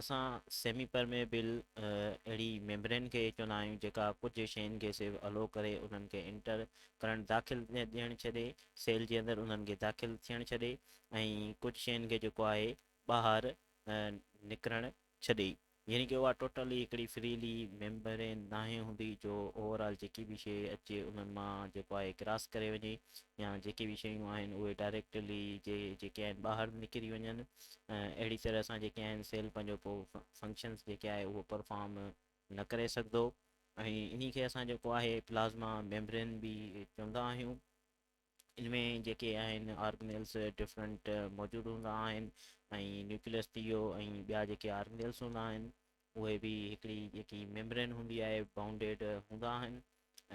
اسان semi permeable اهڙي membrane کي چوندا آهيون جيڪا ڪجهه شين کي صرف الو ڪري انهن کي انٽر ڪرنٽ داخل ڏيڻ ڇڏي سيل جي اندر انهن کي داخل ٿيڻ ڇڏي ۽ ڪجهه شين کي جيڪو آهي ٻاهر نڪرڻ ڇڏي يعني ڪي اها ٽوٽلي هڪڙي فريلي ميمبرين ناهي هوندي جو اوور آل جيڪي به شي اچي انهن مان جيڪو آهي ڪراس ڪري وڃي يا جيڪي به شيون آهن اهي ڊائريڪٽلي جي جيڪي آهن ٻاهر نڪري وڃن اهڙي طرح سان جيڪي آهن سيل پنهنجو ڪو فنڪشنس جيڪي آهي اهو پرفارم نه ڪري سگهندو ۽ انهي کي اسان جيڪو آهي پلازما ميمبرين به چوندا آهيون ان ۾ جيڪي آهن آرگنيلس ڊفرنٽ موجود هوندا آهن ۽ نيوڪليس ٿي ويو ۽ ٻيا جيڪي آرگنيلس هوندا آهن اهي به هڪڙي جيڪي ميمبرين هوندي آهي بائونڊيڊ هوندا آهن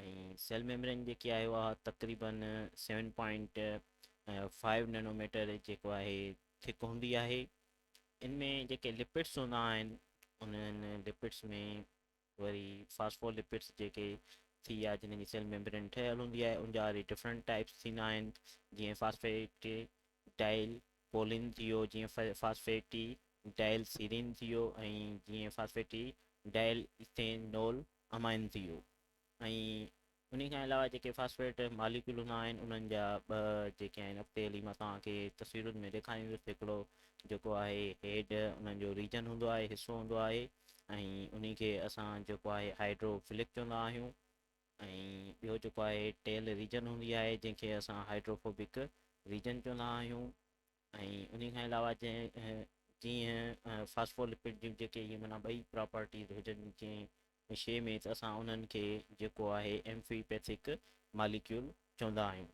۽ سيل ميمبرين جيڪي آهي اها تقريباً seven point five nano metre جيڪو آهي ٿڪ هوندي آهي ان ۾ جيڪي لپڊس هوندا آهن انهن لپڊس ۾ وري فاسفو لپڊس جيڪي ٿي ويا جنهن جي سيل ميمبرين ٺهيل هوندي آهي ان جا وري ڊفرنٽ ٽائپس ٿيندا آهن جيئن فاسفيٽ ڊائل پولين جيو جيئن فاسفيٽي ڊائل سيرين جيو ۽ جيئن فاسفيٽي ڊائل ايٿينول امائن جيو ۽ ان کان علاوه جيڪي فاسفيٽ ماليڪيول هوندا آهن انهن جا ٻه جيڪي آهن اڳتي هلي مان توهان کي تصويرن ۾ ڏيکاريندس هڪڙو جيڪو آهي هيڊ انهن جو ريجن هوندو آهي حصو هوندو آهي ۽ انهي کي اسان جيڪو آهي هائيڊرو فلڪ چوندا آهيون ۽ ٻيو جيڪو آهي ٽيل ريجن هوندي آهي جنهن کي اسان هائڊروفوبڪ ريجن چوندا آهيون ۽ ان کان علاوه جنهن جيئن فاسفولپڊ جون جيڪي اهي معنيٰ ٻئي پراپرٽيز هجن جنهن شيء ۾ ته اسان انهن کي جيڪو آهي ايمفيپيٿڪ ماليڪيول چوندا آهيون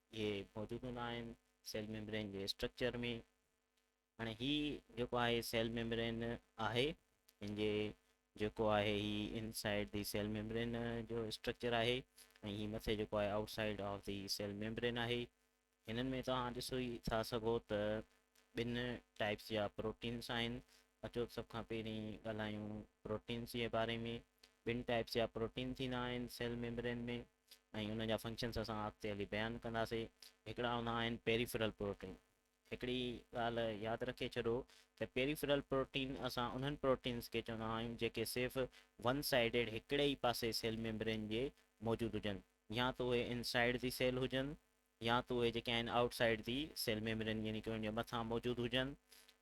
اهي موجود هوندا آهن سيل ميمبرين جي اسٽرڪچر ۾ هاڻي هي جيڪو آهي سيل ميمبرين آهي ان جي جيڪو آهي هي inside the cell membrane جو اسٽرڪچر آهي ۽ هي مٿي جيڪو آهي outside of the cell membrane آهي هنن ۾ توهان ڏسو ئي ٿا سگهو ته ٻن ٽائپس جا پروٽينس آهن اچو سڀ کان پهرين ڳالهايون پروٽينس جي باري ۾ ٻن ٽائپس جا پروٽين ٿيندا آهن سيل ميمبرين ۾ ۽ انهن جا فنڪشنس اسان اڳتي هلي بيان ڪنداسي. هڪڙا هوندا آهن پيريفرل پروٽين. هڪڙي ڳالهه ياد رکي ڇڏو ته پيريفرل پروٽين اسان انهن پروٽينس کي چوندا آهيون جيڪي صرف ون سائيڊيڊ هڪڙي ئي پاسي سيل ميمبرين جي موجود هجن يا ته اهي ان سائيڊ دي سيل هجن يا ته اهي جيڪي آهن outside the cell membrane يعني ڪي ان جي مٿان موجود هجن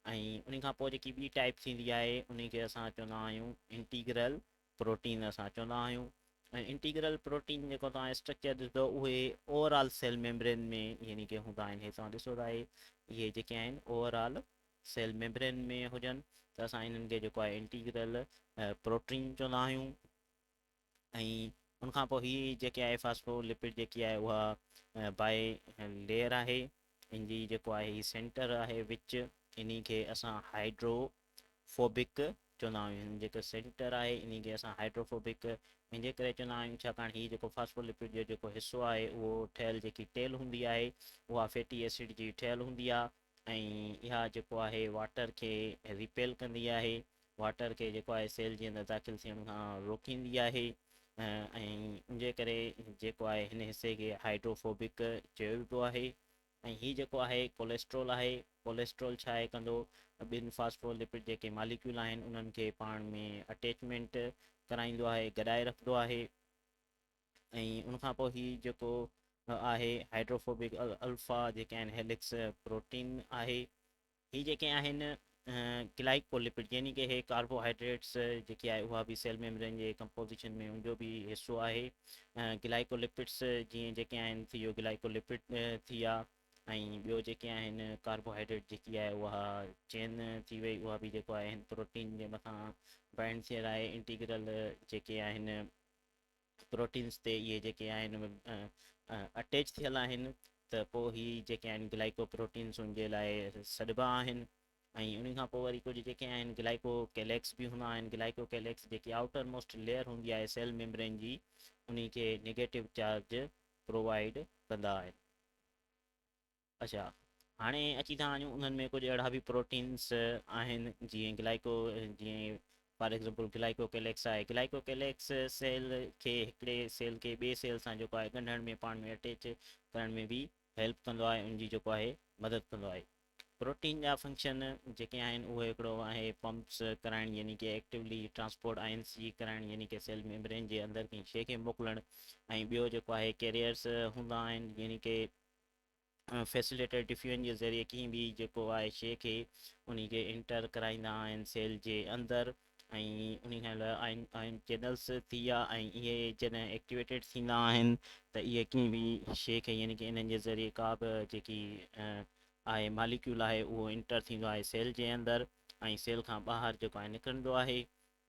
۽ انهي کان پوء جيڪي ٻي ٽائيپ ٿيندي آهي انهي کي اسان چوندا آهيون انٽيگرل پروٽين اسان چوندا آهيون ۽ انٽيگرل پروٽين جيڪو توهان اسٽرڪچر ڏسندو اهي اوور آل سيل ميمبرين ۾ يعني ڪي هوندا آهن هي توهان ڏسو ته آهي اهي جيڪي آهن اوور آل سيل ميمبرين ۾ هجن ته اسان انهن کي جيڪو آهي انٽيگرل پروٽين چوندا آهيون ۽ ان کان پوء هي جيڪي آهي فاسفو لپڊ جيڪي آهي اها باء ليئر آهي ان جي جيڪو آهي سينٽر آهي وچ انهي کي اسان هائڊرو فوبڪ چوندا آهيون هن جيڪو سينٽر آهي انهي کي اسان هائڊرو فوبڪ ان جي ڪري چوندا آهيون ڇاڪاڻ هي جيڪو فاسفولپڊ جو جيڪو حصو آهي اهو ٺهيل جيڪي ٽيل هوندي آهي اها فيٽي ايسڊ جي ٺهيل هوندي آهي ۽ اها جيڪو آهي واٽر کي ريپيل ڪندي آهي واٽر کي جيڪو آهي سيل جي اندر داخل ٿيڻ کان روڪيندي آهي ۽ ان جي ڪري جيڪو آهي هن حصي کي هائڊرو فوبڪ چيو ويبو آهي ۽ هي جيڪو آهي ڪوليسٽرول آهي، ڪوليسٽرول ڇا آهي ڪندو ٻن فاسفو لپڊ جيڪي ماليڪيول آهن انهن کي پاڻ ۾ اٽيچمينٽ ڪرائيندو آهي گڏائي رکندو آهي ۽ ان کان پوء هي جيڪو آهي هائڊروفوبڪ الفا جيڪي آهن هيلڪس پروٽين آهي. هي جيڪي آهن گلائيڪولپڊ يعني ڪي هي ڪاربوهائيڊريٽس جيڪي آهي اها به سيل ميمبرين جي ڪمپوزيشن ۾ ان جو به حصو آهي گلائيڪولپڊس جيئن جيڪي آهن ٿي ويو گلائيڪولپڊ ٿي ويا ۽ ٻيو جيڪي آهن ڪاربوهائيڊريٽ جيڪي آهي اها چين ٿي وئي اها به جيڪو آهن پروٽين جي مٿان بائنڊ ٿيل آهي انٽيگرل جيڪي آهن پروٽينز تي اهي جيڪي آهن اٽيچ ٿيل آهن ته پوء هي جيڪي آهن گلائيڪو پروٽينز ان جي لاء سڏبا آهن ۽ ان کان پوء وري ڪجهه جيڪي آهن گلائيڪو ڪيليڪس به هوندا آهن گلائيڪو ڪيليڪس جيڪي آئوٽر موسٽ ليئر هوندي آهي سيل ميمبرين جي انهي کي نيگيٽو چارج پرووائيڊ ڪندا آهن. اڇا هاڻي اچي ٿا وڃون انهن ۾ ڪجهه اهڙا به پروٽينس آهن جيئن گلائيڪو جيئن فار ايگزامپل گلائيڪو ڪيليڪس آهي گلائيڪو ڪيليڪس سيل کي هڪڙي سيل کي ٻي سيل سان جيڪو آهي ڳنڍڻ ۾ پاڻ ۾ اٽيچ ڪرڻ ۾ به هيلپ ڪندو آهي ان جي جيڪو آهي مدد ڪندو آهي پروٽين جا فنڪشن جيڪي آهن اهو هڪڙو آهي پمپس ڪرائڻ يعني ڪي ايڪٽيولي ٽرانسپورٽ آئنس جي ڪرائڻ يعني ڪي سيل ميمبرين جي اندر ڪنهن شيء کي موڪلڻ ۽ ٻيو جيڪو آهي ڪيريئرس هوندا آهن يعني ڪي فيسيليٽر ٽفين جي ذريعي ڪنهن به جيڪو آهي شيء کي انهي کي انٽر ڪرائيندا آهن سيل جي اندر ۽ انهي کان علاوه آئن آئن چينلز ٿي ويا ۽ اهي جڏهن ايڪٽيويٽيڊ ٿيندا آهن ته اهي ڪنهن به شيء کي يعني ڪه انهن جي ذريعي ڪا به جيڪي آهي ماليڪيول آهي اهو انٽر ٿيندو آهي سيل جي اندر ۽ سيل کان ٻاهر جيڪو آهي نڪرندو آهي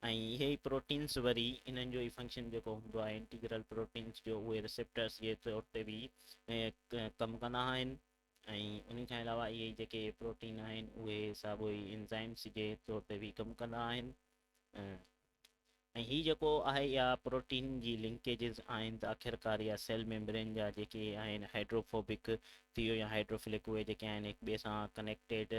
۽ اهي ئي پروٽينز وري انهن جو ئي فنڪشن جيڪو هوندو آهي انٽيگرل پروٽينز جو اهي ريسيپٽرز جي طور تي به ڪم ڪندا آهن ۽ ان کان علاوه اهي جيڪي پروٽين آهن اهي ساڳو ئي انزائمز جي طور تي به ڪم ڪندا آهن ۽ هي جيڪو آهي اها پروٽين جي لنڪيجز آهن ته آخرڪار اها سيل ميمبرين جا جيڪي آهن هائڊروفوبڪ ٿيو يا هائڊروفلڪ اهي جيڪي آهن هڪ ٻئي سان ڪنيڪٽيڊ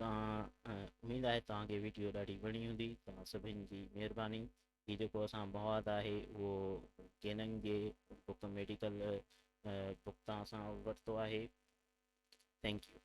تان اميد آهي توهان کي ويڊيو ڏاڍي وڻي هوندي توهان سڀين جي مهرباني هي جيڪو اسان مواد آهي اهو ڪيننگ جي بڪ ميڊيڪل بڪ تان اسان ورتو آهي ٿينڪ يو